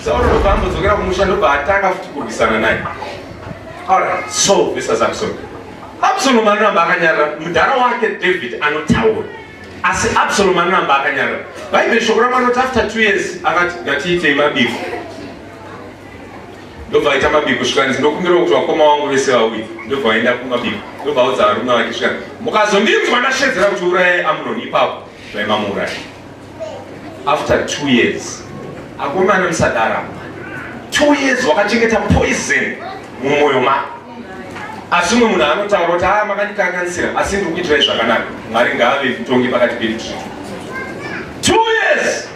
Sauro ndobva ambodzokera kumusha ndobva atanga futi kurwisana naye. Alright, so this is Absalom. Absalom anoramba akanyarara, mudhara wake David anotaura. Asi Absalom anoramba akanyarara. Bhaibheri shoko ramanoti after two years akati ngatiitei mabiko. ndobva aita mabiko svikani ndinokumbirawo kuti vakoma wangu vese vauye ndobva vaenda kumabiko ndobva audza varume vake svikani mukazondinzwa ndashedzera kuti urayai amnoni ipapo zvaimamuuraya after two years akomana musadara two years wakachengeta poison mumwoyo mako asi umwe munhu anotaura kuti haa ah, makandikanganisira asi ndiri kuitirai zvakanaka mwari ngaave mutongi pakati pedu two years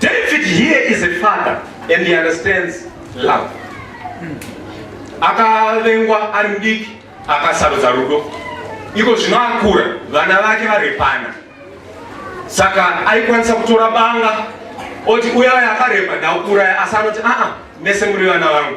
David here is a father and he understands love. Akavengwa ari mudiki akasarudza rudo. Iko zvino akura vana vake varepana. Saka aikwanisa kutora banga oti uya uya akaremba ndakuuraya asi anoti aa mese muri vana vangu.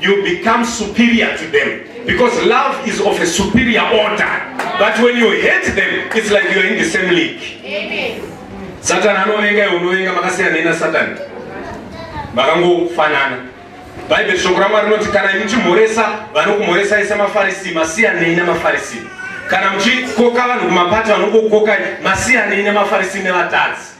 you become superior to them because love is of a superior order but when you hate them it's like you are in the same league Amen. satan anovenga iwe unovenga makasiyana ina satan makangofanana bhaibheri shoko ramwari rinoti kana muchimhoresa vanokumhoresai semafarisi masiyanei nemafarisi kana muchikoka vanhu kumapati vanokukokai masiyanei nemafarisi nevatadzi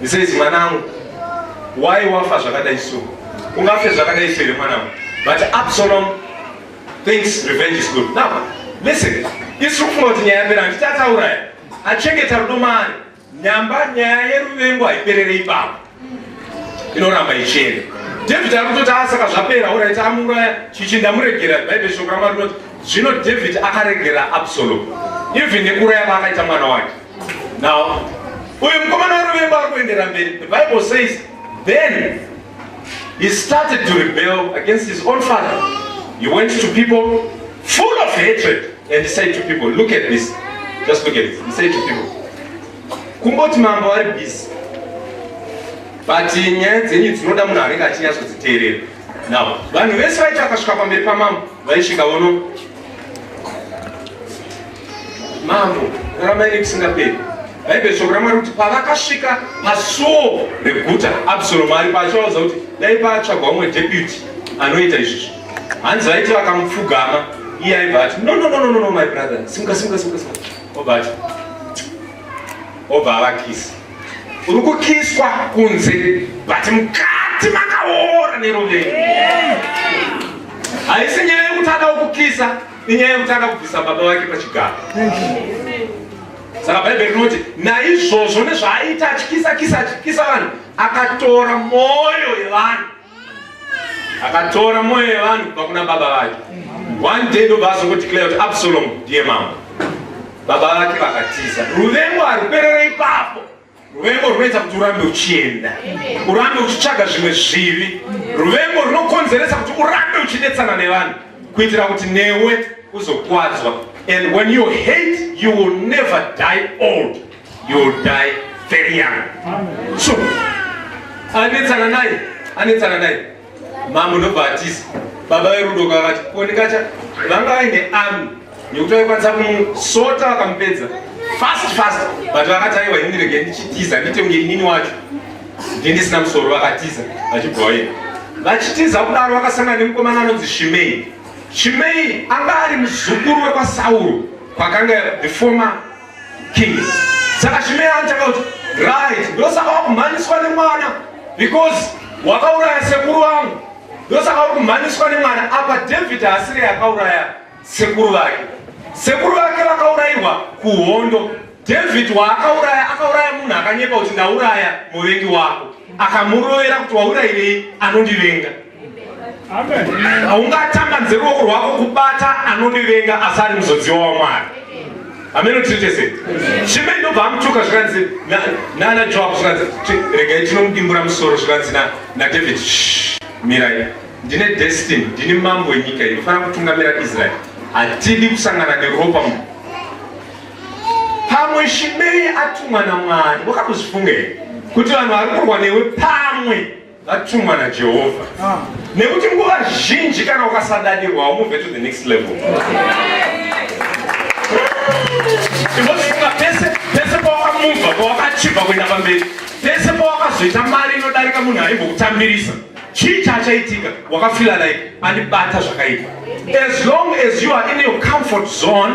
He says mwanangu why wafa zvakadai so ungafe zvakadai so here mwanangu but absalom thinks revenge is good now listen isu kufunga kuti nyaya yapera handiti atauraya achengeta rudo maari nyamba nyaya yeruvengo haiperere ipapo inoramba ichienda david ari kutoti asaka zvapera orit amuuraya chichi ndamuregera bhaibheri shoko ramwari rinoti zvino david akaregera absalom even nekuuraya kwaakaita mwana wake Now, uyu mukomana weruvengo ari kuendera mberi. The Bible says, then he started to rebel against his own father. He went to people full of hatred and he said to people, look at this. Just look at it. He said to people, kumboti mambo ari busy but nyaya dzenyu dzinoda munhu anenge achinyatsodziteerera now vanhu vese vaiti vakasvika pamberi pamambo vaisvika vono Mambo, kuramaini kusingaperi. Bhaibheri shoko ramwari kuti pavakasvika pasuo reguta absalomu ari paachivauza kuti dai paatsvagwa umwe deputy anoita izvizvi hanzi vaiti vakamupfugama iye aibva ati no no no no no my brother simuka simuka simuka simuka obva ati obva avakisi uri kukiswa kunze but mukati makaora nerovei haisi nyaya yekuti adawo kukisa inyaya yekutanga kubvisa baba vake pachigaro saka bhaibheri rinoti naizvozvo nezvaaita atyisa kisa atyisa vanhu akatora mwoyo yevanhu akatora mwoyo yevanhu kubva kuna baba vake one day ndobva azongodeclare kuti absalomu ndiye mambo baba vake vakatiza ruvengo haruperere ipapo Ruvengo runoita kuti urambe uchienda, urambe uchitsvaga zvimwe zvivi. Ruvengo runokonzeresa kuti urambe uchinetsana nevanhu kuitira kuti newe uzokwadzwa. And when you hate, you will never die old. You will die very young. So, anetsana naye, anetsana naye. mambo ndobva atiza baba verudo kavati konikacha vanga vaine ami nekuti vaikwanisa kumusota vakamupedza fast fast but vakati aiwa ini rege ndichitiza ndite kunge inini wacho ndi ndisina musoro vakatiza vachibva vaenda vachitiza kudaro vakasangana nemukomana anonzi shimei shimei anga ari muzukuru wekwasauro kwakanga the former king saka chimeya anotanga kuti right ndosaka wakumhanyiswa nemwana because wakauraya sekuru vangu ndosaka uri kumhanyiswa nemwana apa david haasire yakauraya sekuru vake sekuru vake vakaurairwa kuhondo david waakauraya akauraya munhu akanyepa kuti ndauraya muvengi wako akamurovera kuti waurairei anondivenga haungatambanze ruoko rwako kubata anondivenga asi ari muzodziwa wamwari ameno tiri tese chimei ndobva amutuka zvikanzi nana joab zvikanzi regai tinomudimbura musoro zvikanzi nadavid mirai ndine destiny ndini mambo wenyika iyi kufanira kutungamira israeri hatidi kusangana neropa mu pamwe shimei atumwa namwari wakakuzvifunga here kuti vanhu vari kurwa newe pamwe vatumwa najehovha ah. nekuti nguva zhinji kana ukasadadirwa haumubve to the next level imozifunga pese pese pawakamubva pawakachibva kuenda pamberi pese pawakazoita mari inodarika munhu aimbokutambirisa chii chaachaitika wakafila like andibata zvakaipa as long as you are in your comfort zone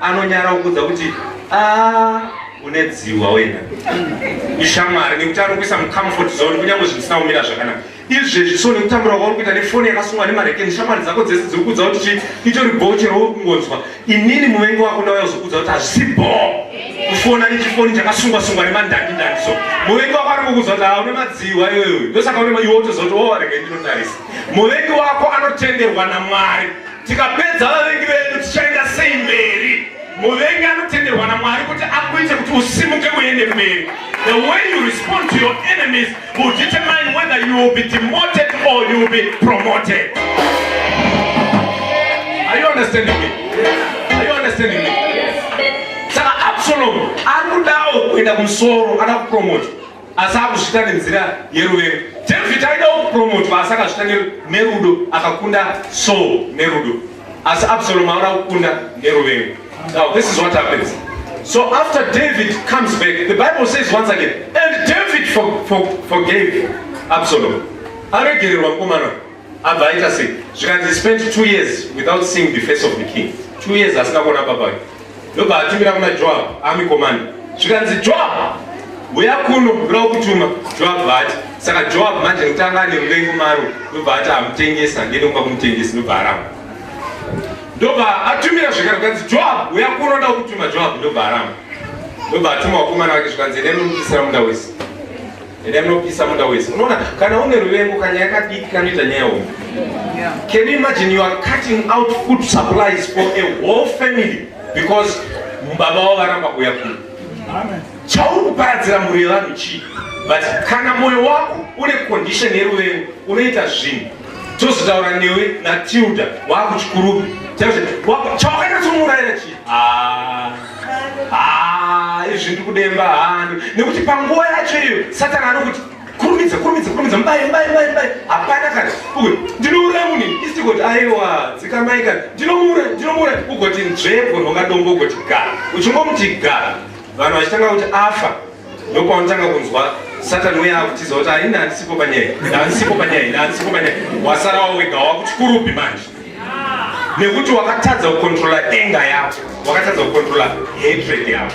anonyara kukudza kuti ah, une dziwa wena ishamwari nekuti anokuisa mucomfort zone kunyange zvinhu zvisina kumira zvakanaka izvezvi so nekutambura kwauri kuita nefoni yakasungwa nemarekeni shamwari dzako dzese dziri kudza kuti chii itori bhoo chero uri kungonzwa inini muvengi wako ndauya kuzokudza kuti hazvisi bhoo kufona nechifoni chakasungwa sungwa nemandandi ndandi so muvengi wako ari kukudza kuti haune madziwa iwewe ndosaka une iwe utozoti owarega oh, ndinotarisa muvengi wako anotenderwa namwari Tikapedza vavengi vedu tichaenda sei mberi? Muvengi anotenderwa naMwari kuti akuite kuti usimuke uende mberi. The way you respond to your enemies will determine whether you will be demoted or you will be promoted. Are you understanding me? Are you understanding me? Saka Absalom ari kudawo kuenda kumusoro, ana kupromota. asi akuzvita nenzira yeruvengo david aida kupromotwa asi akazvita nerudo akakunda saul nerudo asi absalom aona kukunda neruvengo now this is what happens so after david comes back the bible says once again and david for, for, forgave absalom aregererwa mukomana abva aita sei zvikanzi he spent two years without seeing the face of the king two years asina kuona baba vake ndobva atumira kuna joab army commander zvikanzi joab huya kuno ndoda kutuma joab vati saka joab manje nekuti anga ane muvengo maro ndobva ati amutengesa ndiende kuba kumutengesi ndobva aramba ndobva atumira zvekare zvikanzi joab huya kuno ndoda kutuma joab ndobva aramba ndobva atuma wakomana wake zvikanzi ene nomubisira munda wese Ende anopisa muda wese. Unaona kana une ruvengo kana yakadiki kanoita nyaya hombe. Can you imagine you are cutting out food supplies for a whole family because baba wao varamba kuuya kuno. Amen. Chauri kuparadzira mhuri yevanhu chii? But kana moyo wako une condition yeruvengo unoita zvinhu tozotaura newe natilda wakuchikurubi chawakanyatsomurayira chii ah. Ah, izvi ndiri kudemba handu nekuti panguva yacho iyo satani anokuti kurumidza kurumidza kurumidza mubaye mubaye mubaye mubaye hapana kana uyu ndinouraya munhu isigoti aiwa dzikamai kana ndinomuura ndinomuura ugoti nzvebwe rwakadombo ugoti gara uchingomuti gara vanhu vachitanga kuti afa ndokwaunotanga kunzwa satani uya akutiza kuti haina handisipo panyaya handisipo panyaya ina handisipo panyaya wasara wawega wakuchikurupi manje nekuti wakatadza kukontrola enga yako wakatadza kukontrola hatred yako